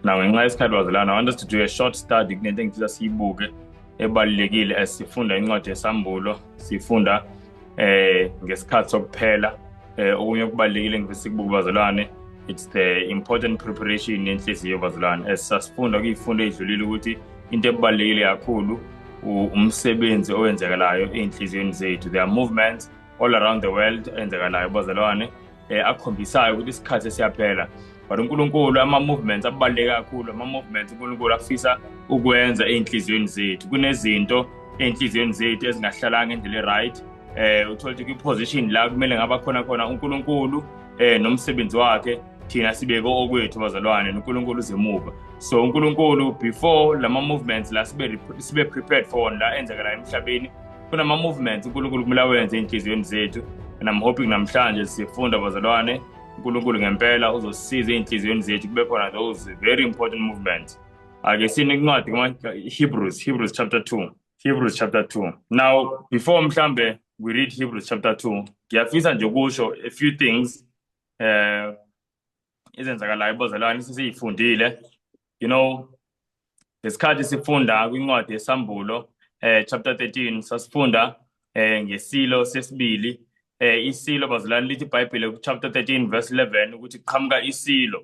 na ngenxa yesikhathi wazelana want us to do a short study kunento engithiza siyibuke ebalulekile as sifunda incwadi yesambulo sifunda eh ngesikhathi sokuphela eh okunye okubalulekile ngifisa ukubuka bazalwane it's the important preparation yenhliziyo bazalwane as sasifunda kuyifunda edlulile ukuthi into ebalulekile kakhulu umsebenzi owenzekalayo ey'nhliziyweni zethu there are movements all around the world enzekalayo bazalwane um akhombisayo ukuthi isikhathi esiyaphela but unkulunkulu ama-movements abaluleke kakhulu ama-movements unkulunkulu afisa ukwenza ey'nhliziyweni zethu kunezinto ey'nhliziyweni zethu ezingahlalanga indlela e-right um uthole ukuthi kwi-position la kumele ngaba khona khona unkulunkulu um nomsebenzi wakhe thina sibeke okwethu bazalwane noNkulunkulu uzemuva so uNkulunkulu before lama movements la sibe sibe prepared for wona la enzeka la emhlabeni kunama movements uNkulunkulu kumele awenze enhliziyweni zethu and I'm hoping namhlanje sifunda bazalwane uNkulunkulu ngempela uzosiza enhliziyweni zethu kube khona those very important movements ake sine incwadi kuma Hebrews Hebrews chapter 2 Hebrews chapter 2 now before mhlambe we read Hebrews chapter 2 ngiyafisa nje ukusho a few things eh izenzakalayo ibozalwane sisiyifundile you know ngesikhathi sifunda kwincwadi yesambulo eh chapter 13 sasifunda eh ngesilo sesibili eh isilo bazalwane lithi iBhayibheli ku chapter 13 verse 11 ukuthi qhamuka isilo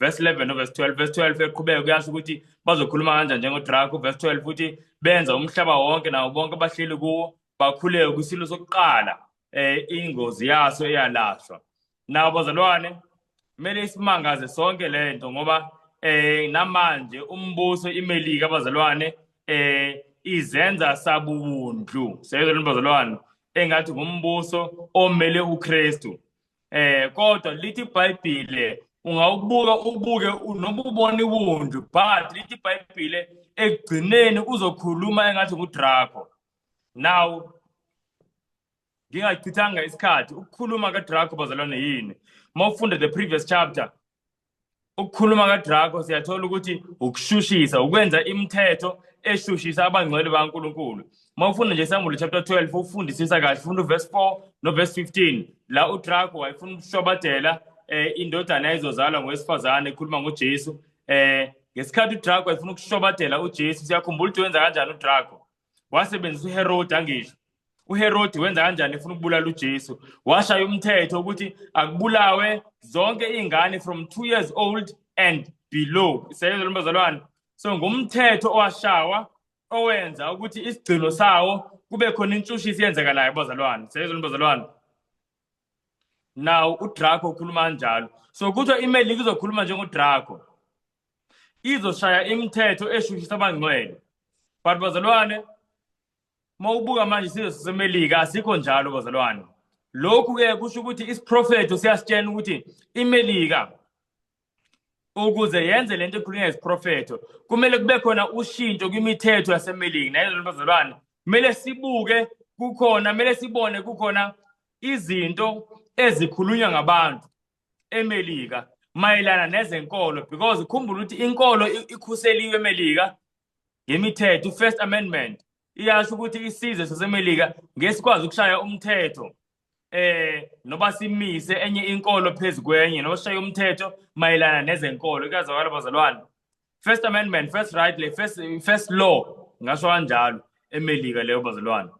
verse 11 noverse 12 verse 12 eqhubeka kuyasho ukuthi bazokhuluma kanjani njengodrako verse 12 futhi benza umhlaba wonke nawo bonke abahleli kuwo bakhuleke kwisilo sokuqala eh ingozi yaso eyalahlwa nawo bazalwane kumele isimangaze sonke le nto ngoba eh namanje umbuso imelika abazalwane eh izenza sabubundlu seyizolona bazalwane engathi ngumbuso omele uKristu eh kodwa lithi iBhayibhile ungawubuka ubuke noma ubona iwundu but lithi iBhayibhile ekugcineni uzokhuluma engathi ngudrako now ngingachithanga isikhathi ukukhuluma kadrako bazalwane yini uma ufunda the previous chapter ukukhuluma kadrako siyathola ukuthi ukushushisa ukwenza imithetho eshushisa abangcwele bankulunkulu uma ufunda nje isambulo chapter 12 ufundisisa kahle funda uverse 4 noverse 15 la udrako wayefuna ukushobadela um eh, indodana yayizozalwa ngowesifazane ekhuluma ngojesu um eh, ngesikhathi udrako wayefuna ukushobadela ujesu siyakhumbula ukuthi wenza kanjani udrako wasebenzisa uherodi angisho uherodi wenza kanjani efuna ukubulala ujesu washaya umthetho ukuthi akubulawe zonke iy'ngane from two years old and below isebenza lombazalwane so ngumthetho owashawa owenza ukuthi isigcino sawo kube khona intshushisi yenzekalayo bazalwane sebenza lombazalwane nawo udrako ukhuluma kanjalo so kuthiwa imelika izokhuluma njengodrako izoshaya imithetho eshushisa abangcwele but bazalwane uma ubuka manje isizwe sasemelika asikho njalo bazalwane lokhu-ke kusho ukuthi isiprofetho siyasitshena ukuthi imelika ukuze yenze le nto ekhulunywa isiprofetho kumele kube khona ushintsho kwimithetho yasemeliki nayezolibazalwane kumele sibuke kukhona kumele sibone kukhona izinto ezikhulunywa ngabantu emelika mayelana nezenkolo because khumbula ukuthi inkolo ikhuseliwe emelika ngemithetho i-first amendment iyasho ukuthi isizwe sasemelika ngesikwazi ukushaya umthetho eh noba simise enye inkolo phezu kwenye noshaya umthetho mayelana nezenkolo kuyazwakala bazalwane first amendment first right le first first law ngasho kanjalo emelika leyo bazalwane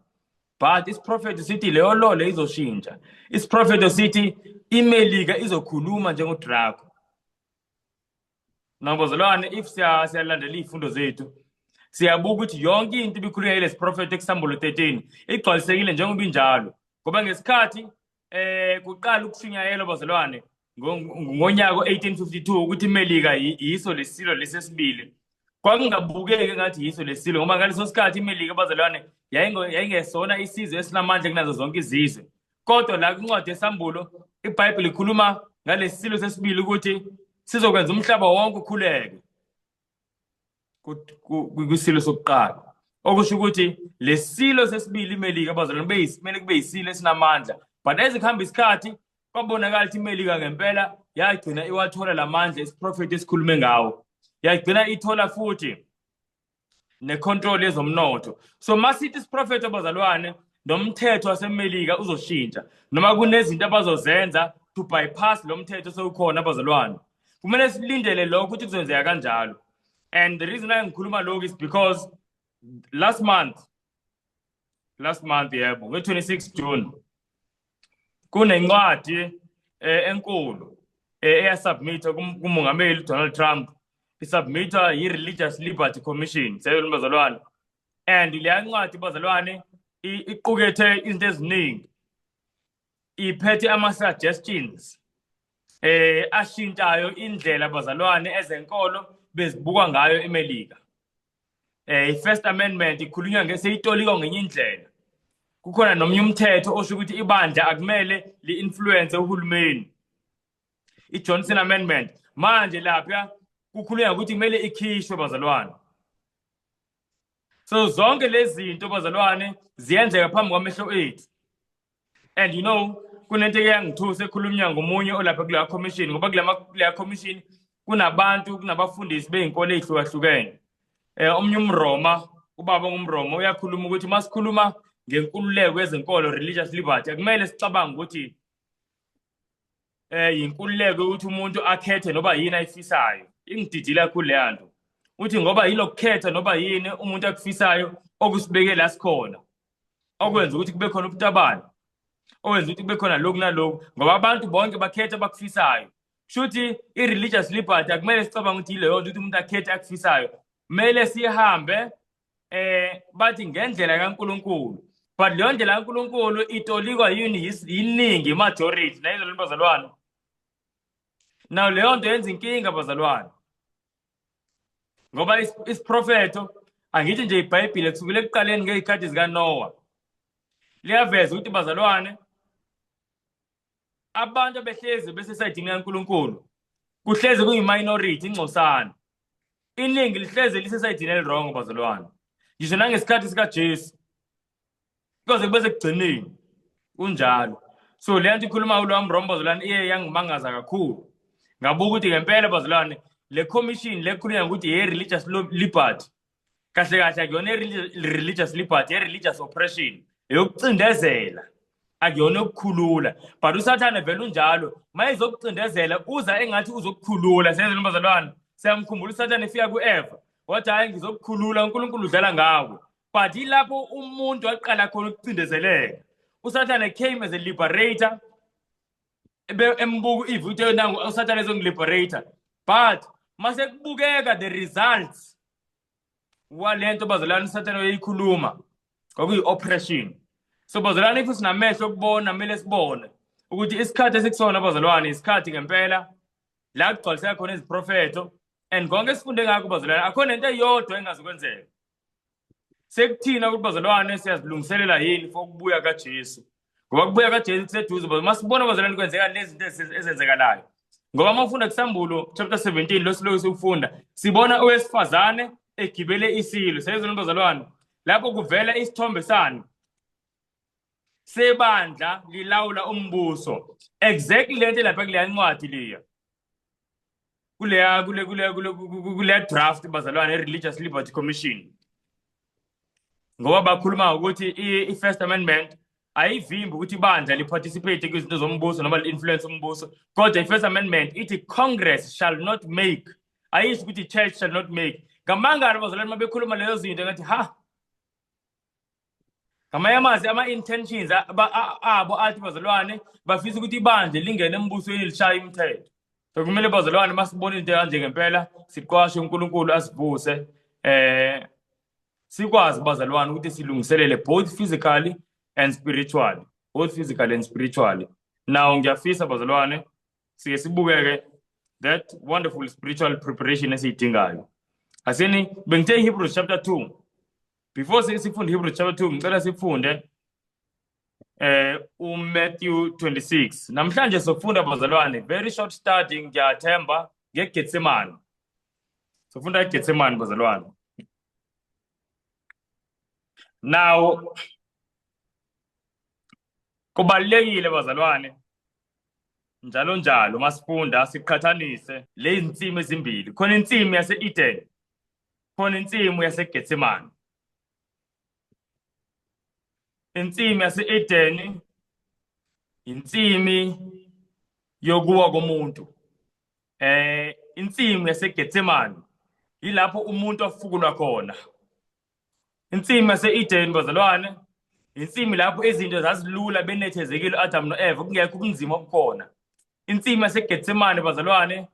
but isiprofeto sithi leyo law le izoshintsha isiprofeto sithi imelika izokhuluma njengodrako Mna bazalwane if siya- siyalandela iy'fundo zethu siyabuka ukuthi yonke into ibikhulunywa yilesi profethi ekusambolo 13 igcwalisekile njengoba injalo ngoba ngesikhathi eh kuqala ukushunyayelwa bazalwane ngo- ngo- ngonyaka o-1852 ukuthi imelika yi- yiso lesilo lesesibili kwakungabukeki ngathi yiso lesilo ngoba ngaleso sikhathi imelika bazalwane yayingo- yayingesona isizwe esinamandla kunazo zonke izizwe kodwa la kwincwadi yesambulo ibhayibhile ikhuluma ngalesi silo sesibili ukuthi sizokwenza umhlaba wonke ukhuleke kwisilo sokuqala okusho ukuthi lesilo sesibili imelika abazalwane beyisimele kube yisilo esinamandla but ezikuhamba isikhathi kwabonakala ukuthi imelika ngempela yagcina iwathola lamandla isiprofethi esikhulume ngawo yagcina ithola futhi necontrol yezomnotho so masithi isiprofetho abazalwane nomthetho wasemelika uzoshintsha noma kunezinto abazozenza to bypass lo mthetho sewukhona abazalwane kumele silindele lokho ukuthi kuzenzeka kanjalo and the reason why ngikhuluma lokhu is because last month last month yebo nge-26 june kunencwadi eh, enkulu eh, eyasubmitha kumongameli uDonald Trump isubmitha yi-Religious Liberty Commission seyona bazalwane and leya ncwadi bazalwane iqukethe izinto eziningi iphethe ama-suggestions eh ashintshayo indlela bazalwane ezenkolo bezibuka ngayo eMelika eh i-first amendment ikhulunywa ngeseyitoliko ngenye indlela kukhona nomnye umthetho osho ukuthi ibandla akumele li-influence uhulumeni i-johnson amendment manje lapha kukhulunywa ukuthi kumele ikhishwe bazalwane so zonke lezi zinto bazalwane ziyenzeka phambi kwamehlo ethu and you know kunento eke yangithusa ekhulumya ngomunye olapha kuleya commission ngoba kuleya commission kunabantu kunabafundisi bey'nkolo ey'hlukahlukene um omunye umroma ubaba ongumroma uyakhuluma ukuthi uma sikhuluma ngenkululeko yezenkolo religious liberty akumele sicabange ukuthi eh yinkululeko ukuthi umuntu akhethe noba yini ayifisayo ingididile kakhulu leya nto uthi ngoba yilokukhetha noba yini umuntu akufisayo okusibeke la sikhona okwenza ukuthi kube khona ubutabane owenza ukuthi kube khona lokhu nalokhu ngoba abantu bonke bakhetha abakufisayo shuthi i-religious liberty akumele sicabanga ukuthi yileyo nto ukuthi umuntu akhethe akufisayo kumele sihambe eh bathi ngendlela kaNkuluNkulu but leyo ndlela kaNkuluNkulu itolikwa yini yiningi majority nayizo lento bazalwane now leyo nto yenza inkinga bazalwane ngoba isiprofetho angithi nje ibhayibhile kusukela ekuqaleni ngey'khathi zikanowa liyaveza ukuthi bazalwane abantu abehlezi besesayidini kankulunkulu kuhlezi kuyi-minority ingcosana iningi lihlezi lisesayidini elirongo bazalwane ngisho nangesikhathi sikajesu koze kube sekugcineni kunjalo so le nto ikhuluma ulo wami rombo bazalwane iye yangimangaza kakhulu ngabuka ukuthi ngempela bazalwane le commission le khulunywa ngokuthi ye-religious liberty kahle kahle akuyona i-religious liberty ye-religious oppression eyokucindezela akuyona yokukhulula but usathane vele unjalo ma ezokucindezela uza engathi uzokukhulula senzela umbazalwane siyamkhumbula usathane efika ku-eva wathi hhayi ngizokukhulula unkulunkulu udlala ngawo but ilapho umuntu aqala khona ukucindezeleka usathane came as a liberator embuka ueve uthe yona usathane ezongiliberator but mase kubukeka the results wale nto bazolana usathane oyikhuluma kwakuyi-oppression so bazolana if sinamehlo okubona kumele sibone ukuthi isikhathi esikusona bazalwane isikhathi ngempela la kugcwaliseka khona iziprofetho and konke esifunde ngakho bazalwane akhona into eyodwa engazi kwenzeka sekuthina ukuthi bazalwane siyazilungiselela yini for ukubuya kaJesu ngoba kubuya kaJesu kuseduze but masibona bazalwane kwenzeka nezinto ezenzekalayo ngoba uma ufunda kusambulo chapter 17 lo siloku sikufunda sibona owesifazane egibele isilo seyizona bazalwane lapho kuvela isithombe sani sebandla lilawula umbuso exactly lento lapha kuleya incwadi leya kuleya kule kule kule kule draft bazalwane religious liberty commission ngoba bakhuluma ukuthi i first amendment ayivimbi ukuthi ibandla li participate kwizinto zombuso noma li influence umbuso kodwa i first amendment ithi congress shall not make ayisho ukuthi church shall not make ngamangalo bazalwane mabekhuluma leyo zinto ngathi ha ngamanye amazwi ama-intentions abo athi bazalwane bafisa ukuthi ibandla lingene embusweni lishaya imithetho so kumele bazalwane uma sibona into kanje ngempela siqwashe unkulunkulu asivuse um sikwazi bazalwane ukuthi silungiselele both physically and spiritually both physically and spiritually now ngiyafisa bazalwane sike sibukeke that wonderful spiritual preparation esiyidingayo asini bengithe ihebrews chapter 2 before sifunde Hebrew chapter 2 ngicela sifunde eh uMatthew 26 namhlanje sofunda bazalwane very short study ngiyathemba ngeGetsemane sofunda iGetsemane bazalwane now kubalekile bazalwane njalo njalo masifunda siqhathanise lezi nsimi ezimbili khona insimi yase-Eden khona insimu yaseGetsemane insimu yase-Edeni insimi yokuwa komuntu eh insimu yaseGetsemane yilapho umuntu afukulwa khona insimu yase-Edeni bazalwane insimu lapho izinto zazilula benethezekile uAdam noEva kungekho ubunzima obukhona insimu yaseGetsemane bazalwane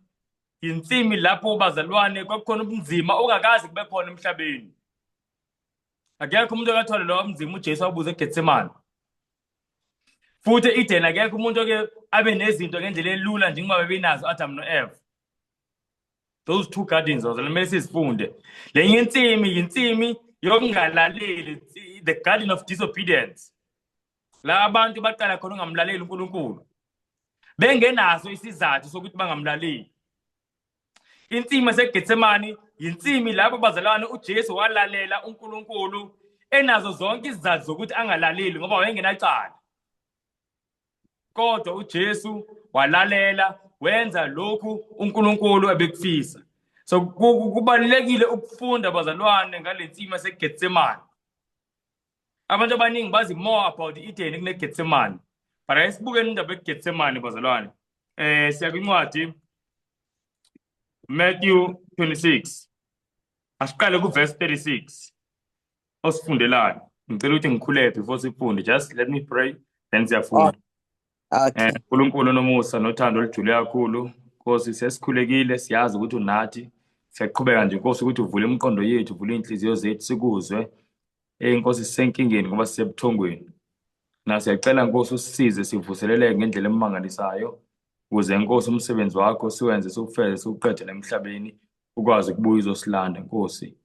Yinsimi lapho bazalwane kwakukhona ubunzima ongakazi kube khona emhlabeni. Akekho umuntu akathwale lowo mzima uJesu abuze eGetsemane. Futhi eEden akekho umuntu oke abe nezinto ngendlela elula njengoba bebenazo Adam noEva. Those two gardens those kumele sizifunde. Lenye insimi yinsimi yokungalaleli the garden of disobedience. la abantu baqala khona ungamlaleli uNkulunkulu bengenaso isizathu sokuthi bangamlaleli insimi eseGetsemane yinsimi lapho bazalwane uJesu walalela uNkulunkulu enazo zonke izizathu zokuthi angalaleli ngoba wayengenacala kodwa uJesu walalela wenza lokhu uNkulunkulu ebekufisa so kubalekile ukufunda bazalwane ngalensima seGetsemane abantu abaningi bazi more about i-edeni kunegetsemane but ake sibukeni indaba egetsemane bazalwane um eh, siya kwincwadi matthew 26 asiqale kuverse 36 osifundelayo ngicela ukuthi ngikhulele before sifunde just let me pray then siyafunda Okay. Eh, uNkulunkulu nomusa nothando olujule kakhulu. Nkosi sesikhulekile siyazi ukuthi unathi. Siyaqhubeka nje Nkosi ukuthi uvule imiqondo yethu, uvule inhliziyo zethu sikuzwe. Eh Nkosi sisenkingeni ngoba sisebuthongweni. Na siyacela Nkosi usisize sivuseleleke ngendlela emangalisayo. Kuze Nkosi umsebenzi wakho siwenze sokufeze sokuqede emhlabeni ukwazi ukubuya uzosilanda Nkosi.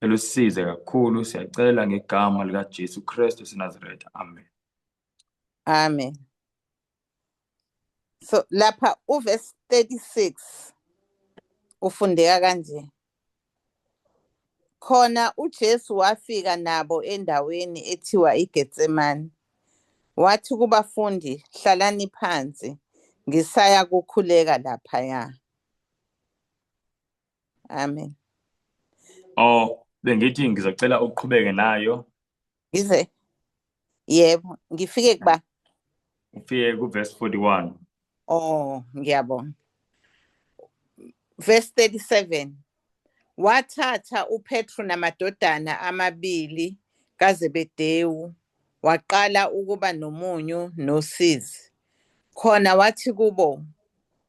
Elusize kakhulu siyacela ngegama lika Jesu Kristu sinaziretha. Amen. Amen. So lapha uverse 36 ufundeka kanje. Khona uJesu wafika nabo endaweni ethiwa iGetsemane. Wathi kubafundi, hlalani phansi, ngisaya kukhuleka laphaya. Amen. Oh, bengithi ngizocela uqhubeke nayo Yize yebo ngifike kuba ufike ku verse 41 oh ngiyabonga verse 37 wathatha uPetru namadodana amabili kaZebedewu waqala ukuba nomunyu nosizi khona wathi kubo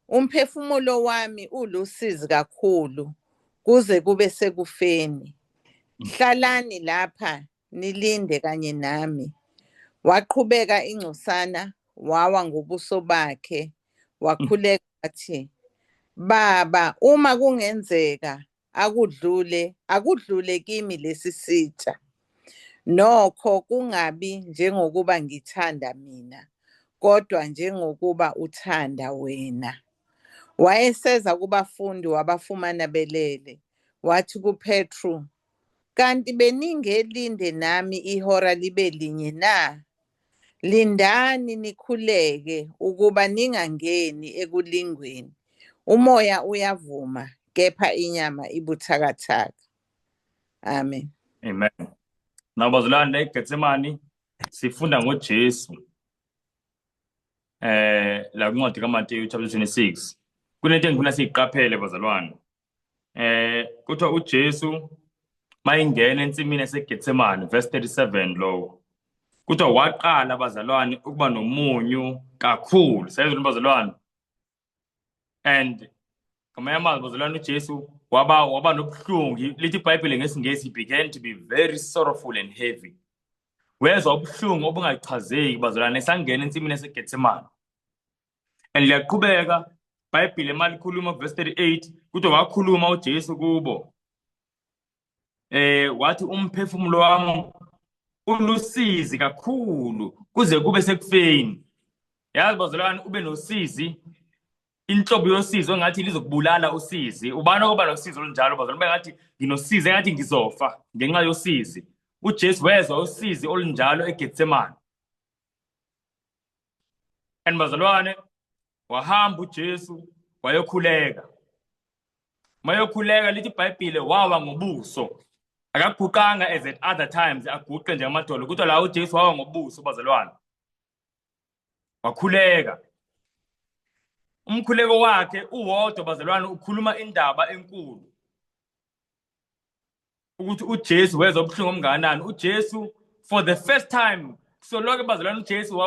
Umphefumulo wami ulusizi kakhulu kuze kube sekufeni. Hlalani lapha nilinde kanye nami. Waqhubeka ingcosana wawa ngobuso bakhe wakhuleka wathi, Baba, uma kungenzeka akudlule akudlule kimi lesi sitsha nokho kungabi njengokuba ngithanda mina kodwa njengokuba uthanda wena wayeseza kubafundi wabafumana belele wathi kupetru kanti beningelinde nami ihora libe linye na Lindani nikhuleke ukuba ningangeni ekulingweni. Umoya uyavuma kepha inyama ibuthakathaka. Amen. Amen. Nabazalwane eGetsemane sifunda ngoJesu. Eh la kuncwadi kaMateyu chapter 26. Kunento engifuna siyiqaphele bazalwane. eh kuthiwa uJesu mayingena ensimini yaseGetsemane verse 37 lowo kuthiwa waqala abazalwane ukuba nomunyu kakhulu sezwe abazalwane and ngamanye amazwi abazalwane uJesu waba waba nobuhlungu lithi iBhayibheli ngesingesi began to be very sorrowful and heavy wezwa ubuhlungu obungachazeki bazalwane esangena ensimini yaseGetsemane and liyaqhubeka ibhayibhile malikhuluma verse 38 kuthi wakhuluma uJesu kubo eh wathi umphefumulo wami ulusizi kakhulu kuze kube sekufeni yazi bazalwane ube nosizi inhlobo yosizi ongathi lizokubulala usizi ubani okoba nosizi olunjalo bazalwane bengathi nginosizi engathi ngizofa ngenxa yosizi uJesu wezwa usizi olunjalo eGetsemane and bazalwane wahamba uJesu wayokhuleka mayokhuleka lithi ibhayibhile wawa ngobuso akaguqanga as at other times aguqe nje amadolo kodwa la uJesu wawa ngobuso bazalwane wakhuleka umkhuleko wakhe uwodwa bazalwane ukhuluma indaba enkulu ukuthi uJesu wezwa ubuhlungu omngakanani uJesu for the first time kusoloke bazalwana uJesu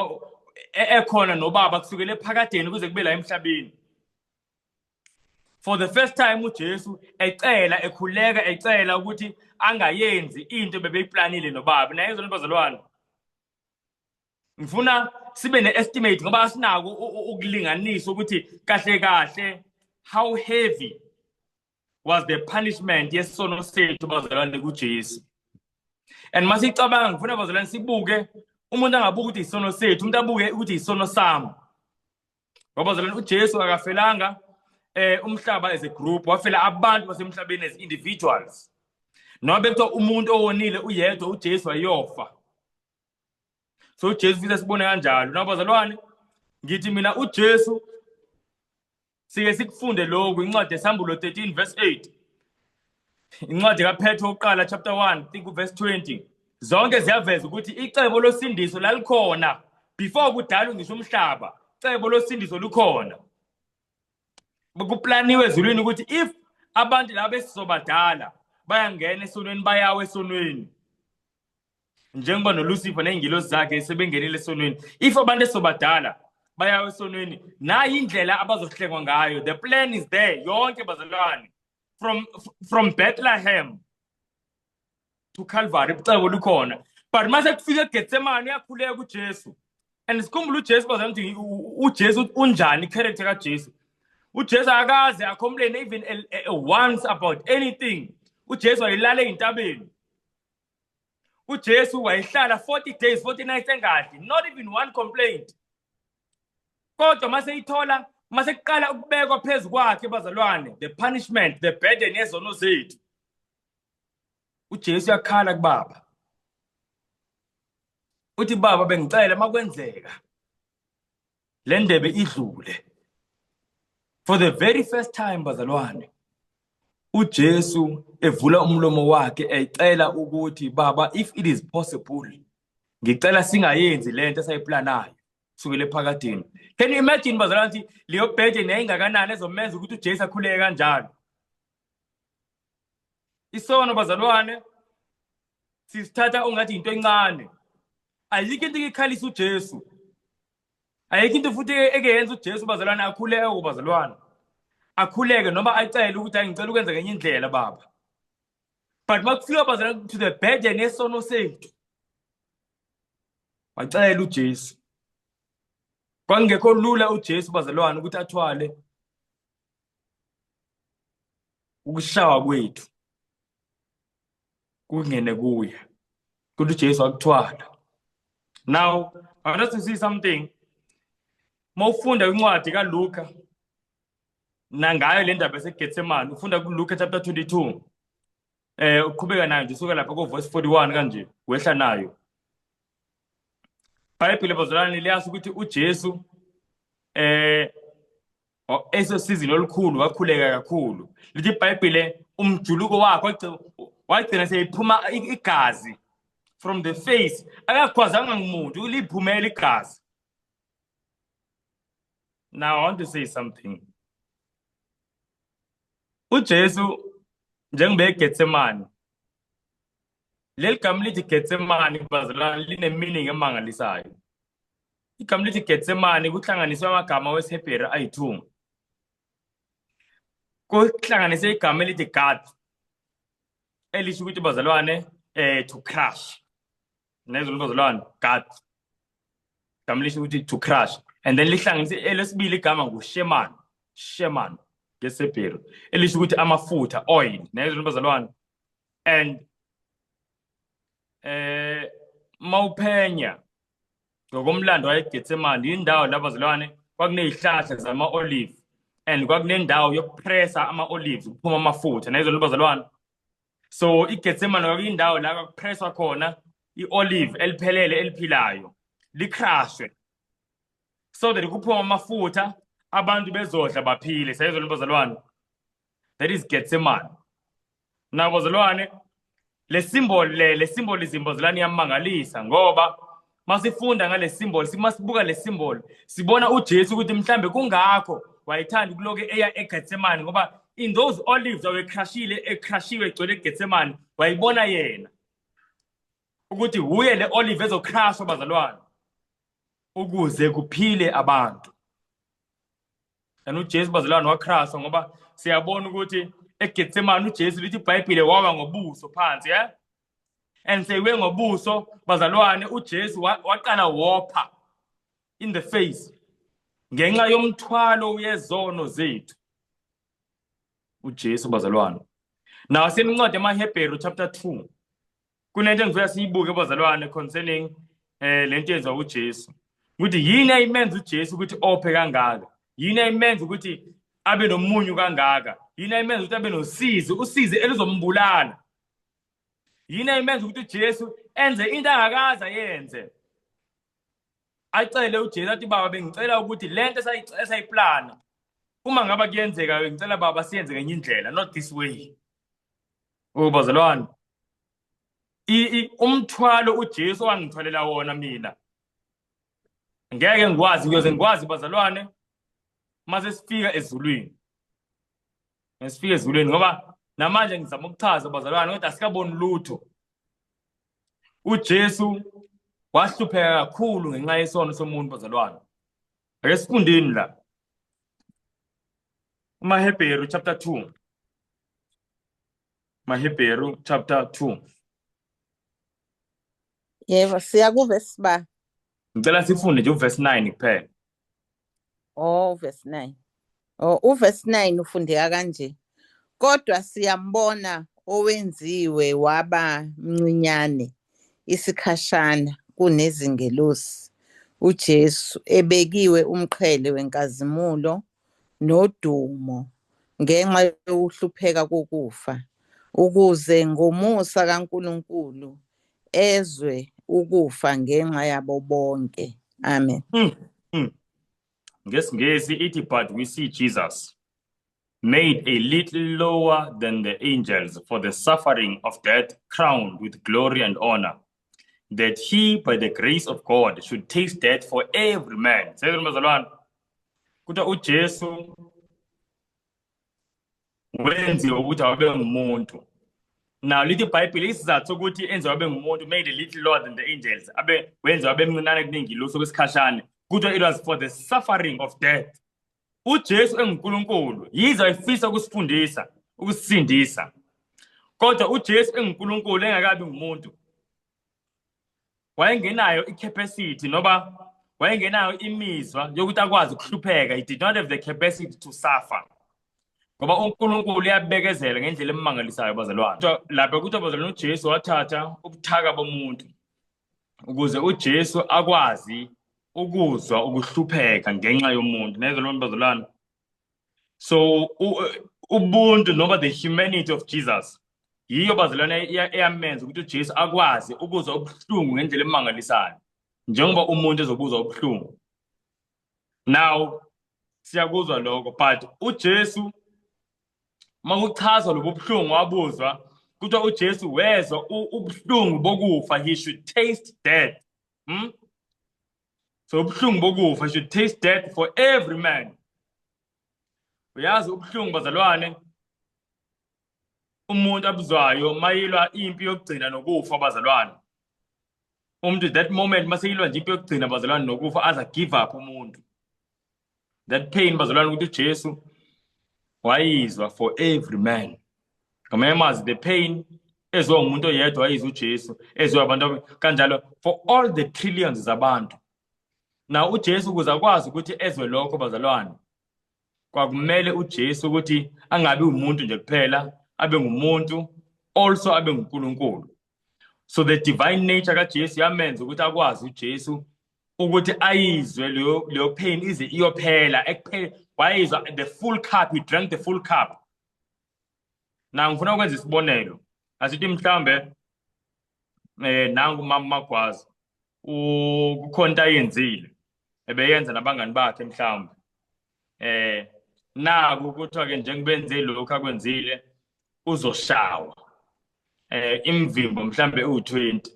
e, ekhona nobaba kusukele ephakadeni kuze kube la emhlabeni for the first time uJesu ecela ekhuleka ecela ukuthi angayenzi into bebeyiplanile nobaba naye izona bazalwane ngifuna sibe ne-estimate ngoba asinako ukulinganisa ukuthi kahle kahle how heavy was the punishment yesono sethu bazalwane kuJesu and masicabanga ngifuna bazalwane sibuke umuntu angabuka ukuthi isono sethu umuntu abuke ukuthi isono sami ngoba bazalwane uJesu akafelanga eh umhlaba as a group wafela abantu basemhlabeni as individuals noma bekuthiwa umuntu owonile uyedwa uJesu wayofa so uJesu ufisa sibone kanjalo nabazalwane ngithi mina uJesu Sike sikufunde lokhu incwadi yeSambulo 13 verse 8. Incwadi kaPetro uqala chapter 1 think verse 20. Zonke ziyaveza ukuthi icebo losindiso lalikhona before kudalwe ngisho umhlaba. Cebo losindiso lukhona. Bekuplaniwe ezulwini ukuthi if abantu laba esizobadala bayangena esonweni bayawe esonweni. njengoba nolucifer ney'ngilosi zakhe sebengenile esonweni if abantu esobadala bayawa esonweni nayi indlela abazohlengwa ngayo the plan is there yonke bazalwane from, from bethlehem to calvary ubucebo lukhona but uma sekufika egetsemane uyakhuleka ujesu and sikhumbula ujesu bazana ukuthi ujesu unjani icharacter kajesu ujesu akaze acomplain even once about anything ujesu ayilale ey'ntabeni uJesu wayehlala 40 days 40 nights engadli not even one complaint kodwa mase ithola mase kuqala ukubekwa phezu kwakhe bazalwane the punishment the burden yezono zethu uJesu yakhala kubaba uthi baba bengicela makwenzeka le ndebe idlule for the very first time bazalwane uJesu evula umlomo wakhe ecela ukuthi baba if it is possible ngicela singayenzi lento esayiplanayo sukele phakadini can you imagine bazalwane ukuthi leyo bhede neyingakanani ezomenza ukuthi uJesu akhuleke kanjalo isono bazalwane sisithatha ungathi into encane ayikho into ikhalisa uJesu ayikho into futhi ekeyenza uJesu bazalwane akhuleke ubazalwane akhuleke noma acele ukuthi angicela ukwenza ngenye indlela baba but makufika bazalwane to the bed and esono sethu wacela uJesu kwangekho lula uJesu bazalwane ukuthi athwale ukushawa kwethu kungene kuye kuthi uJesu akuthwala now i want to see something mawufunda incwadi kaLuka nangayo le ndaba eseGetsemane ufunda kuLuka chapter 22 eh uqhubeka nayo nje usuka lapha ko verse 41 kanje wehla nayo Bhayibhile bazalwane liyasho ukuthi uJesu eh esosizini olukhulu wakhuleka kakhulu lithi ibhayibhile umjuluko wakho wagcina seyiphuma igazi from the face akakhwazanga ngumuntu uliphumela igazi now i want to say something ujesu njengoba egetsemane leli gama lithi getsemane bazalwane linemeaning emangalisayo igama lithi getsemane kuhlanganiswe amagama wesihebheru ayi-two kuhlanganise igama elithi gad elisho ukuthi bazalwane um to crush nezulu bazalwane gad igama lisho ukuthi to crush and then lihlanganise elesibili igama ngusheman sheman ngesihebheru elisho ukuthi amafutha oil nezulu bazalwane and eh mawuphenya ngokomlando wayeGetsemane indawo lapho bazalwane kwakunezihlahla zama olive and kwakunendawo yokupressa ama olives kuphuma amafutha nezo bazalwane so iGetsemane kwakuyindawo la kwakupresswa khona iolive eliphelele eliphilayo licrashwe so that kuphuma amafutha abantu bezodla baphile sayezo bazalwane that is Getsemane nabo zilwane le symbol le le symbolism bozilani iyamangalisa ngoba masifunda ngale symbol simasibuka le symbol sibona uJesu ukuthi mhlambe kungakho wayethanda ukuloke eya eGethsemane ngoba in those olives awecrashile ecrashiwe egcwele eGethsemane wayibona yena ukuthi wuye le olive ezocrashwa bazalwane ukuze kuphile abantu and uJesu bazalwane wachrasa ngoba siyabona ukuthi eGetsemane uJesu lithi iBhayibhile wawa ngobuso phansi yeah and seyiwe ngobuso bazalwane uJesu waqala wopha in the face ngenxa yomthwalo uyezono zethu uJesu bazalwane nawo senincwadi emaHebheru chapter 2 kunento engifuna siyibuke bazalwane concerning eh lento yenziwa uJesu ukuthi yini ayimenza uJesu ukuthi ophe kangaka yini ayimenza ukuthi abe nomunyu kangaka yini ayimenza ukuthi abe nosizi usizi elizombulala yini ayimenza ukuthi uJesu enze into angakaza yenze acele uJesu athi baba bengicela ukuthi lento esayiplana uma ngaba kuyenzeka ngicela baba siyenze ngenye indlela not this way Ubazalwane umthwalo uJesu wangithwalela wona mina ngeke ngikwazi ngiyoze ngikwazi bazalwane mase sifika ezulwini ngisifika ezulwini ngoba namanje ngizama ukuchaza bazalwane kodwa asikaboni lutho uJesu wahlupheka kakhulu ngenxa yesono somuntu bazalwane ake sifundeni la uMahebheru chapter 2 Mahebheru chapter 2. Yebo, siya kuverse ba. Ngicela sifunde nje uverse 9 kuphela. Oh, verse 9. Oh, uverse 9 ufundeka kanje. Kodwa siyambona owenziwe waba mncinyane isikhashana kunezingelosi uJesu ebekiwe umqhele wenkazimulo nodumo ngenxa yokuhlupheka kokufa, ukuze ngomusa kaNkulunkulu ezwe ukufa ngenxa yabo bonke. Amen. Mm, mm. NgesiNgisi ithi but we see Jesus made a little lower than the angels for the suffering of death, crowned with glory and honor that he by the grace of God should taste death for every man seyini bazalwane kuthiwa uJesu wenziwe ukuthi awabe ngumuntu now lithi ibhayibhile isizathu sokuthi enziwe abe ngumuntu made a little lower than the angels abe wenziwe abe mncinane kunengilosi okwesikhashane kuthiwa it was for the suffering of death uJesu enguNkulunkulu yize efisa ukusifundisa ukusisindisa kodwa uJesu enguNkulunkulu engakabi ngumuntu wayengenayo i-capacity noba wayengenayo imizwa yokuthi akwazi ukuhlupheka he did not have the capacity to suffer ngoba uNkulunkulu uyabekezela ngendlela emangalisayo bazalwane lapha ukuthi abazalwane uJesu wathatha ubuthaka bomuntu ukuze uJesu akwazi ukuzwa ukuhlupheka ngenxa yomuntu neze loo bazalwane so ubuntu noma the humanity of jesus yiyo bazalwane eyamenza ukuthi ujesu akwazi ukuzwa ubuhlungu ngendlela emangalisayo njengoba umuntu ezobuzwa ubuhlungu now siyakuzwa lokho but uJesu makuchaza lobubuhlungu wabuzwa kuthiwa uJesu wezwa ubuhlungu bokufa he should taste death hmm? so ubuhlungu bokufa should taste death for every man uyazi ubuhlungu bazalwane umuntu abuzwayo mayilwa impi yokugcina nokufa abazalwane umuntu that moment maseyilwa nje impi yokugcina abazalwane nokufa aza give up umuntu that pain bazalwane ukuthi uJesu wayizwa for every man ngamanye amazwi the pain ezwa umuntu oyedwa wayizwa uJesu ezwa abantu kanjalo for all the trillions zabantu na uJesu kuza kwazi ukuthi ezwe lokho bazalwane Kwakumele uJesu ukuthi angabi umuntu nje kuphela, abe ngumuntu, also abe nguNkulunkulu. So the divine nature kaJesu yamenza ukuthi akwazi uJesu ukuthi ayizwe leyo leyo pain ize iyophela ekuphela wayizwa the full cup he drank the full cup na ngifuna ukwenza isibonelo asithi mhlambe eh nangu mama magwazi kukhona into ayenzile ebeyenza nabangani bakhe mhlawumbe eh naku kuthiwa ke njengobenze lokho akwenzile uzoshawa eh imvimbo mhlambe u20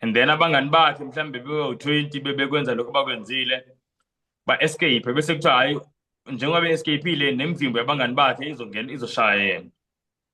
and then abangani bakhe mhlambe bewu20 bebekwenza lokho bakwenzile ba escape bese kuthiwa hayi njengoba be escape le nemvimbo yabangani bakhe izongena izoshaya yena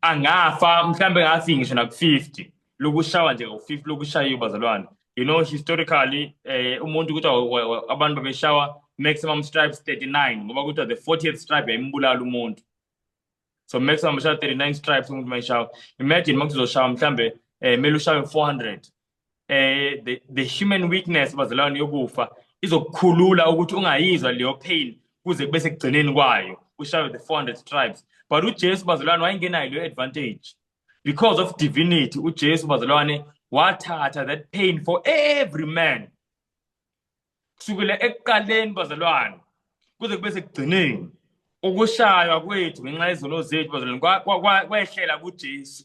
angafa mhlambe ngathi ngisho na 50 lokushawa nje ngo-50 lokushaya ubazalwane you know historically eh umuntu ukuthi abantu babeshawa maximum stripes 39 ngoba kuthiwa the 40th stripe yayimbulala umuntu so maximum beshawa 39 stripes umuntu mayishawa imagine uma kuzoshawa mhlambe eh mele ushawe 400 eh the, the human weakness bazalwane yokufa izokukhulula ukuthi ungayizwa leyo pain kuze kube sekugcineni kwayo ushayo the 400 stripes but uJesu bazalwane wayengenayo leyo advantage because of divinity uJesu bazalwane wathatha that pain for every man kusukela ekuqaleni bazalwane kuze kube sekugcineni ukushaywa kwethu ngenxa yezono zethu bazalwane kwehlela kuJesu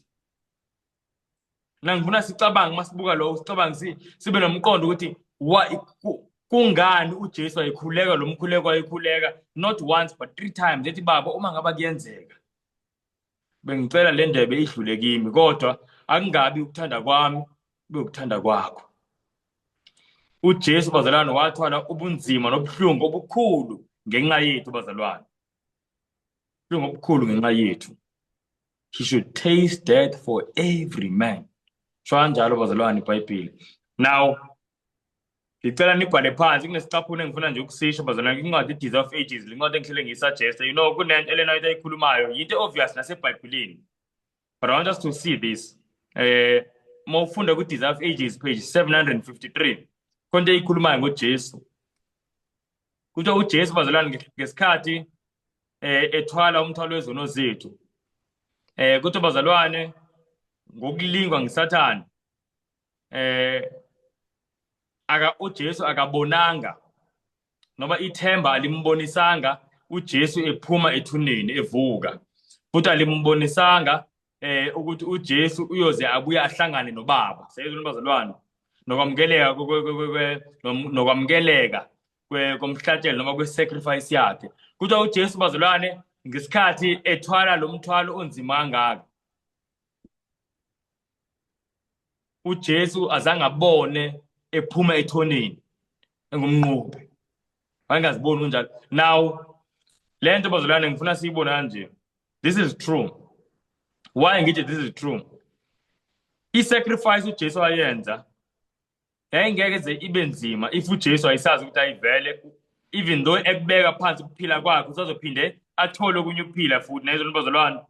mina ngifuna sicabange uma sibuka lokho sicabange si, sibe nomqondo ukuthi wa, ku, kungani ujesu wayekhuleka lo mkhuleko wayekhuleka not once but three times ethi baba uma ngaba kuyenzeka bengicela le ndebe idlule kimi kodwa akungabi ukuthanda kwami kube ukuthanda kwakho ujesu bazalwane wathwala ubunzima nobuhlungu obukhulu ngenxa yethu bazalwane ubuhlungu obukhulu ngenxa yethu he should taste death for every man sho kanjalo bazalwane ibhayibhile now ngicela nibhale phansi kunesicaphuna engifuna nje ukusisho bazalwane incwadi i-death of ages le ncwadi engihlele ngiyisuggeste you know kunento elena into ayikhulumayo yinto obvious nasebhayibhilini but i want us to see this eh uma ufunda ku-death of ages page 753 konto eyikhulumayo ngojesu Kuthiwa uJesu bazalwane nge- ngesikhathi eh ethwala umthwalo wezono zethu. Eh kuthiwa bazalwane ngokulingwa ngisathana eh aka uJesu akabonanga noma ithemba alimbonisanga uJesu ephuma ethuneni evuka futhi alimbonisanga eh ukuthi uJesu uyoze abuye ahlangane noBaba seyizwe nobazalwane nokwamkeleka nokwamkeleka komhlatshelo noma kwesacrifice yakhe kuthiwa uJesu bazalwane ngesikhathi ethwala lo mthwalo onzima kangaka uJesu azange abone ephuma ethoneni engumnqobi angaziboni unjalo now le nto bazolwane ngifuna siyibone kanje this is true why ngithi this is true i-sacrifice ujesu wayenza yayingeke ze ibe nzima if ujesu wayesazi ukuthi ayivele even though ekubeka phansi ukuphila kwakhe usazophinde athole okunye ukuphila futhi nayizona bazalwane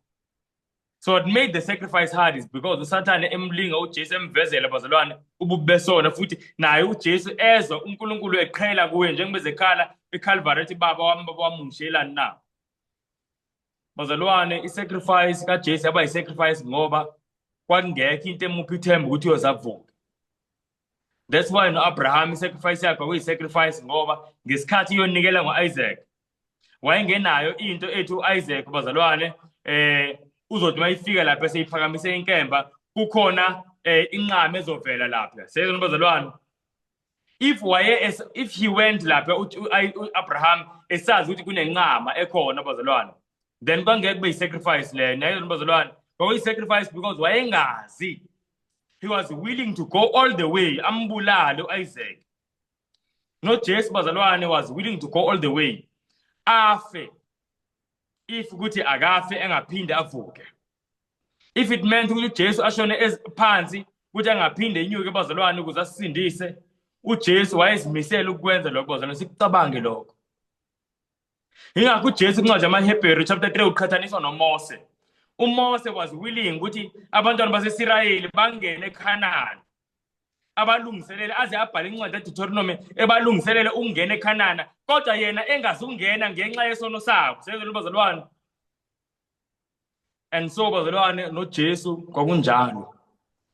so what made the sacrifice hard is because usathane emlinga ujesu emvezela bazalwane ububi besona futhi naye ujesu ezwa unkulunkulu eqhela kuye njengoba ezekhala ekhalvari ethi baba wami baba wami ungishelani na bazalwane i-sacrifice kajesu yaba yi-sacrifice ngoba kwakungekho into emuphi ithemba ukuthi uyozavuka that's why no-abraham i-sacrifice yakhe kwakuyi-sacrifice ngoba ngesikhathi iyonikela ngo-isaac wayengenayo into ethi uIsaac bazalwane eh uzothi mayifika lapha seyiphakamise inkemba kukhona eh inqama ezovela lapha seyizona bazalwane if waye if he went lapha uAbraham esazi ukuthi kunenqama ekhona bazalwane then kwangeke kube yisacrifice leyo nayo bazalwane kwakuyisacrifice because wayengazi he was willing to go all the way ambulale uIsaac nojesu bazalwane was willing to go all the way afe if ukuthi akafe engaphinde avuke if it meant ukuthi ujesu ashone phansi ukuthi angaphinde inyuke bazalwane ukuze asisindise ujesu wayezimisele ukukwenza lokho bazalwane sikucabange lokho yingakho ujesu incwadi yamahebheru chapter 3 uqhathaniswa nomose umose was willing ukuthi abantwana basesirayeli bangene ekhanani abalungiselele aze abhale incwadi edeuteronomy ebalungiselele ukungena ekhanana kodwa yena engazukungena ngenxa yesono sabo sezelo bazalwane and so bazalwane noJesu kwakunjalo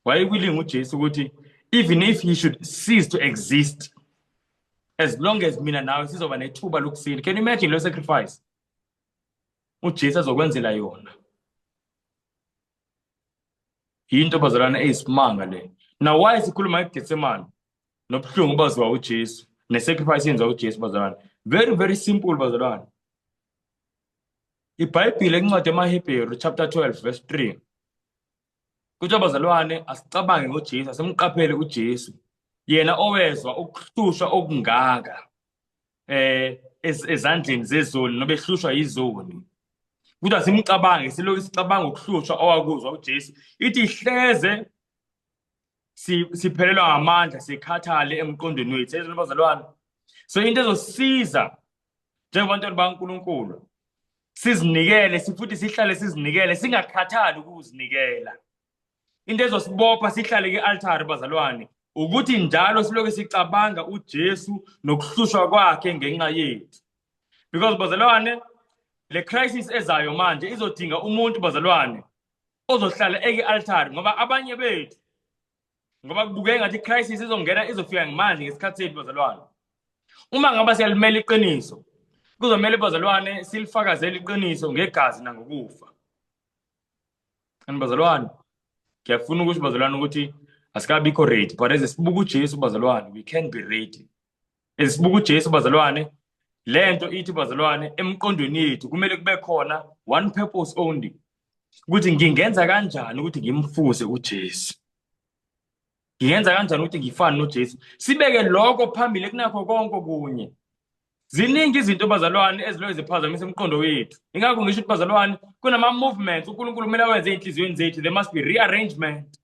wayekwilinga uJesu ukuthi even if he should cease to exist as long as mina nawe sizoba nethuba lokusila can you imagine leyo sacrifice uJesu azokwenzela yona yinto bazalwana eyisimanga le now why sikhuluma ngeGetsemane nobuhlungu baziwa uJesu nesacrifice yenziwa uJesu bazalwane very very simple bazalwane IBhayibhile incwadi yamaHebheru chapter 12 verse 3 kuthiwa bazalwane asicabange ngoJesu asimqaphele uJesu yena owezwa ukuhlushwa okungaka eh ezandleni zezoni nobehlushwa yizoni kuthi asimcabange silokhu sicabanga ukuhlushwa owakuzwa uJesu ithi hleze siphelelwa ngamandla sikhathale emqondweni wethu ezona bazalwane so into ezosiza njengabantwana baNkulunkulu sizinikele sifuthi sihlale sizinikele singakhathali ukuzinikela into ezosibopha sihlale kwi-altari bazalwane ukuthi njalo siloke sicabanga uJesu nokuhlushwa kwakhe ngenxa yethu because bazalwane le crisis ezayo manje izodinga umuntu bazalwane ozohlala eki-altari ngoba abanye bethu ngoba kubukeka ngathi icrisis izongena izofika ngemanje ngesikhathi sethu bazalwane uma ngaba siyalimela iqiniso kuzomele bazalwane silifakazele iqiniso ngegazi nangokufa and bazalwane ngiyafuna ukusho bazalwane ukuthi asikabikho ready but as sibuka ujesu bazalwane we can be ready and sibuka uJesu bazalwane lento ithi bazalwane emqondweni yethu kumele kube khona one purpose only ukuthi ngingenza kanjani ukuthi ngimfuse uJesu ngiyenza kanjani ukuthi ngifane noJesu sibeke lokho phambili kunakho konke kunye ziningi izinto bazalwane ezilo ziphazamisa umqondo wethu ingakho ngisho ukuthi bazalwane kunama movements uNkulunkulu kumele awenze ezinhliziyweni zethu there must be rearrangement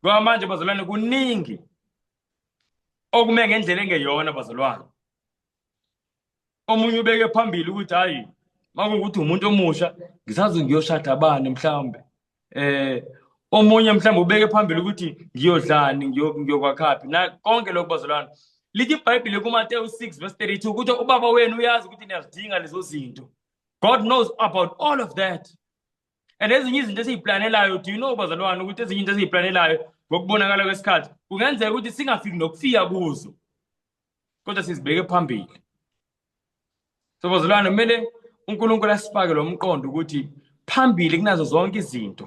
ngoba manje bazalwane kuningi okume ngendlela engeyona bazalwane omunye ubeke phambili ukuthi hayi makungukuthi umuntu omusha ngisazi ngiyoshada bani mhlawumbe eh omunye mhlawumbe ubeke phambili ukuthi ngiyodlani ngiyokwakhaphi na konke lokho bazalwane lithi ibhayibhile kumateyu 6 verse 32 ukuthi ubaba wenu uyazi ukuthi niyazidinga lezo zinto god knows about all of that and ezinye izinto esiyiplanelayo do you know bazalwane ukuthi ezinye into esiyiplanelayo ngokubonakala kwesikhathi kungenzeka ukuthi singafiki nokufika kuzo kodwa sizibeke phambili so bazalwane kumele unkulunkulu asifake lo mqondo ukuthi phambili kunazo zonke izinto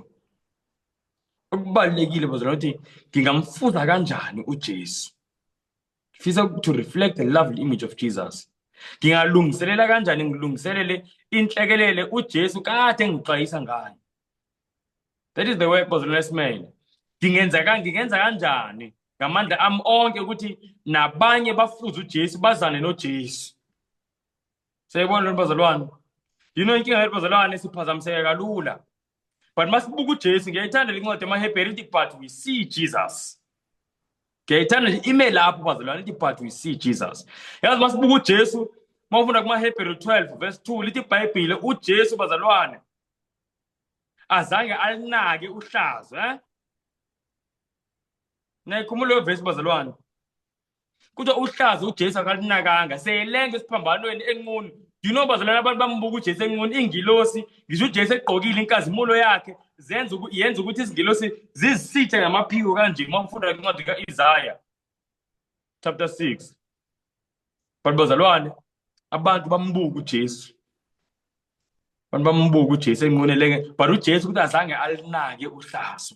okubalulekile bazalwane ukuthi ngingamfuza kanjani ujesu ngifisa to reflect the lovely image of Jesus ngingalungiselela kanjani ngilungiselele inhlekelele uJesu kade engixwayisa ngayo that is the way was last man ngingenza ka ngingenza kanjani ngamandla ami onke ukuthi nabanye bafuze uJesu bazane noJesu seyibona lo bazalwane yino inkinga yethu bazalwane siphazamiseka kalula but masibuka uJesu ngiyayithanda lencwadi emaHebheru ithi but we see Jesus ngiyayithanda nje ime lapho bazalwane ithi but we see Jesus yazi masibuka uJesu mawufunda kumaHebheru 12 verse 2 lithi iBhayibhile uJesu bazalwane azange alinake uhlazo eh nayikhumula leyo vesi bazalwane kuthiwa uhlaza ujesu akalinakanga seyelenga esiphambanweni enqunu you know bazalwane abantu bambuka ujesu enqunu ingilosi ngisho ujesu egqokile inkazimulo yakhe zenza yenza ukuthi izingilosi zizisithe ngamaphiko kanje uma ufunda incwadi ka-isaya chapter 6 but bazalwane abantu bambuka ujesu abantu bambuka ujesu enqunu elenge but ujesu ukuthi azange alinake uhlazo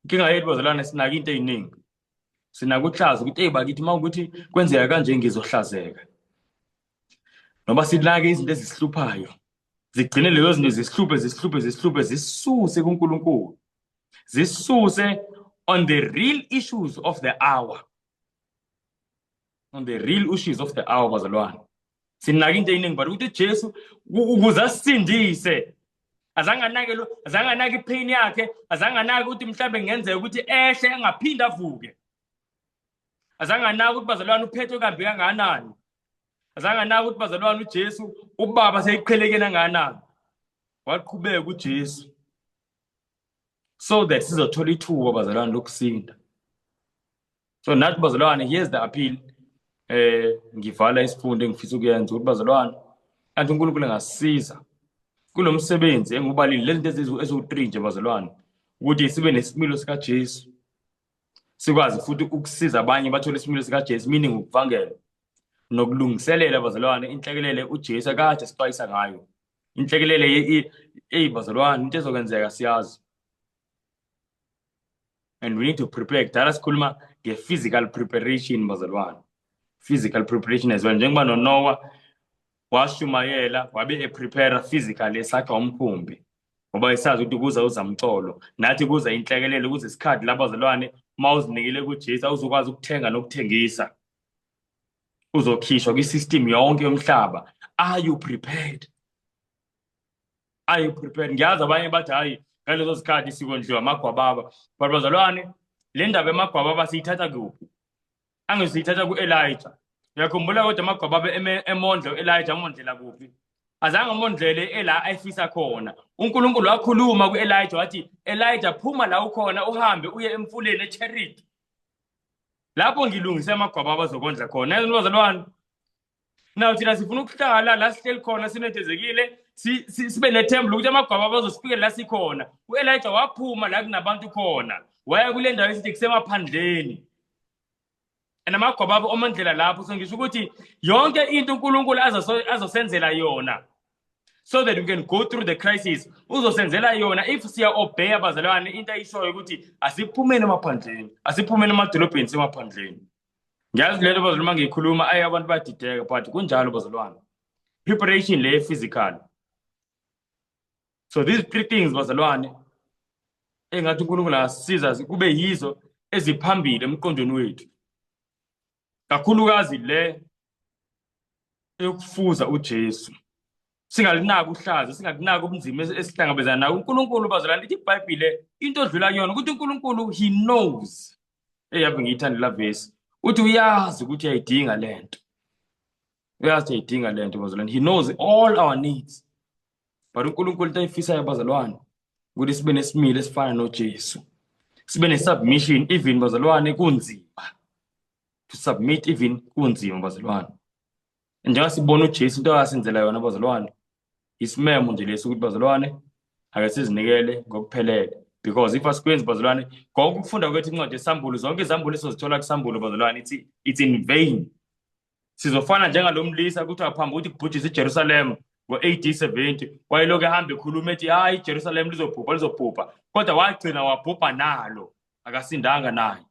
inkinga yethu bazalwane sinake into eziningi sinake uhlaza ukuthi eyi bakithi uma ukuthi kwenzeka kanje ngizohlazeka noba sinake izinto ezisihluphayo zigcine lezo zinto zisihluphe zisihluphe zisihluphe zisuse kuNkulunkulu zisuse on the real issues of the hour on the real issues of the hour bazalwane sinake into eyiningi but ukuthi ujesu ukuze asisindise azange anake lo azange anake ipain yakhe azange anake ukuthi mhlawumbe kungenzeka ukuthi ehle engaphinde avuke azange anake ukuthi bazalwane uphethwe kambi kangakanani azange anake ukuthi bazalwane ujesu ubaba seyiqhelekeni angakanani waqhubeka ujesu so that sizothola ithuba bazalwane lokusinda so nathi bazalwane here's the appeal eh ngivala isifundo engifisa ukuyenza ukuthi bazalwane athi uNkulunkulu engasisiza kulomsebenzi engubalile lezinto eziwu eziwu3 nje bazalwane ukuthi sibe nesimilo sika Jesu sikwazi futhi ukusiza abanye bathole isimilo sika Jesu meaning ukuvangela nokulungiselela bazalwane inhlekelele uJesu akade sixwayisa ngayo inhlekelele ey bazalwane into ezokwenzeka siyazi and we need to prepare kudala sikhuluma nge-physical preparation bazalwane physical preparation as well njengoba nonowa washumayela wabe eprepare physically esakha umkhumbi ngoba esazi ukuthi kuza uzamcolo nathi kuza inhlekelele kuze isikhathi labazalwane uma uzinikele kujesu awuzokwazi ukuthenga nokuthengisa uzokhishwa kwi-system yonke yomhlaba are you prepared are you prepared ngiyazi abanye bathi hayi ngalezo sikhathi sikondliwa amagwababa but bazalwane le ndaba yamagwababa siyithatha kuphi angithi siyithatha ku-elija uyakhumbula kodwa amagwababa emondla u-elija amondlela kuphi azange amondlele ela ayifisa khona unkulunkulu wakhuluma ku-elija wathi elija phuma la ukhona uhambe uye emfuleni echeriti lapho ngilungise amagwababa azokondla khona bazalwane naw thina sifuna ukuhlala la sihleli khona sinethezekile sibe nethemba lokuthi amagwaba abazosifikela la sikhona u-elija waphuma la kunabantu khona waya kule ndawo esithi kusemaphandleni and amagwaba abo omandlela lapho so ngisho ukuthi yonke into unkulunkulu azosenzela yona so that we can go through the crisis uzosenzela yona if siya-obeya abazalwane into ayishoyo ukuthi asiphumeni emaphandleni asiphumeni emadolobheni semaphandleni ngiyazi lento bazulu uma ngiyikhuluma ayi abantu badideka but kunjalo bazalwane preparation le physical so these three things bazalwane engathi unkulunkulu asiza kube yizo eziphambili emqondweni wethu kakhulukazi le yokufuza uJesu singalinaki uhlaza singakunaki ubunzima esihlangabezana nawo unkulunkulu bazalana lithi ibhayibhile into odlula kuyona ukuthi unkulunkulu he knows eyave ngiyithande la vesi uthi uyazi ukuthi uyayidinga le nto uyazi ukuthi uyayidinga le nto bazalwane he knows all our needs but unkulunkulu into ayifisayo bazalwane ukuthi sibe nesimilo esifana nojesu sibe ne-submission even bazalwane kunzima to submit even kunzima bazalwane njengoba sibona uJesu into akasenzela yona bazalwane isimemo nje lesi ukuthi bazalwane ake sizinikele ngokuphelele because if asikwenzi bazalwane konke ukufunda kwethu incwadi yesambulo zonke izambulo esizozithola kusambulo bazalwane ithi it's in vain sizofana njengalo mlisa kuthiwa phambi ukuthi kubhujise ijerusalema ngo-ad 70 wayeloku ehamba ekhuluma ethi hayi ijerusalema lizobhubha lizobhubha kodwa wagcina wabhubha nalo akasindanga naye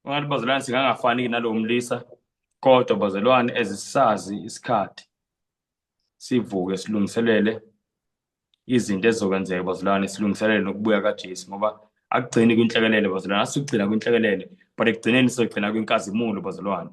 ungathi bazalwane singangafani nalowo mlisa kodwa bazalwane ezisazi isikhathi sivuke silungiselele izinto ezizokwenzeka bazalwane silungiselele nokubuya kaJesu ngoba akugcini kwinhlekelele bazalwane asigcina kwinhlekelele but ekugcineni sizogcina kwinkazimulo bazalwane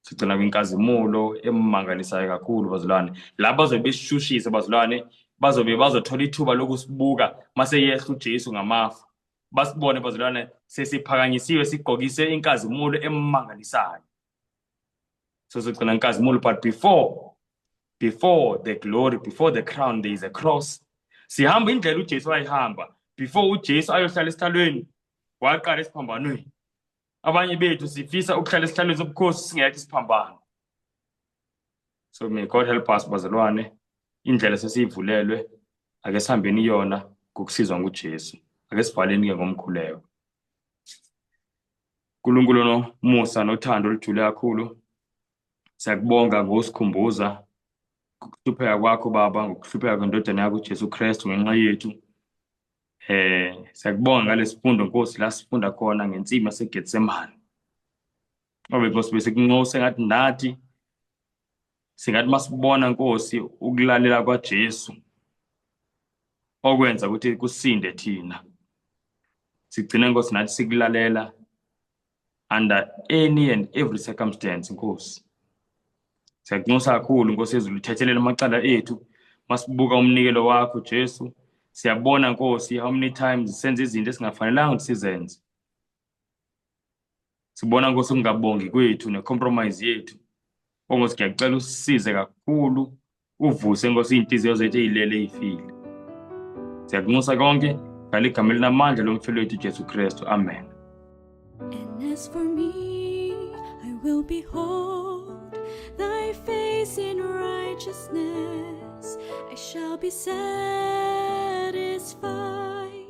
sigcina kwinkazimulo emangalisayo kakhulu bazalwane laba bazobe besishushise bazalwane bazobe bazothola ithuba lokusibuka mase yehla uJesu ngamafa basibone bazalwane sesiphakanyisiwe sigqokise inkazimulo emangalisayo so sigcina inkazimulo but before before the glory before the crown there is a cross sihamba indlela uJesu ayihamba before uJesu ayohlala esihlalweni waqala esiphambanweni abanye bethu sifisa ukuhlala esihlalweni sobukhosi singekho isiphambano so may god help us bazalwane indlela sesiyivulelwe ake sihambeni iyona ngokusizwa ngujesu ake sivaleni-ke ngomkhuleko nkulunkulu nomusa nothando olujule kakhulu siyakubonga ngokusikhumbuza ngokuhlupheka kwakho baba ngokuhlupheka kwendodana yakho ujesu kristu ngenxa yethu Eh siyakubonga ngalesifundo Nkosi la sifunda khona ngensima seGetsemane. Obe Nkosi bese kunxose ngathi ndathi singathi masibona Nkosi ukulalela kwaJesu okwenza ukuthi kusinde thina. Sigcine Nkosi nathi sikulalela under any and every circumstance nkosi siyakunxusa kakhulu nkosi yezulu thethelela amacala ethu masibuka umnikelo wakho Jesu siyabona nkosi how many times senze izinto esingafanelanga ukuthi sizenze sibona nkosi ukungabongi kwethu necompromise yethu ongosi ngiyacela usisize kakhulu uvuse nkosi iy'nhliziyo zethu ey'lele ey'file siyakunxusa konke ngale igama elinamandla lomfelo wethu ujesu kristu amen And as for me, I will behold thy face in righteousness. I shall be satisfied.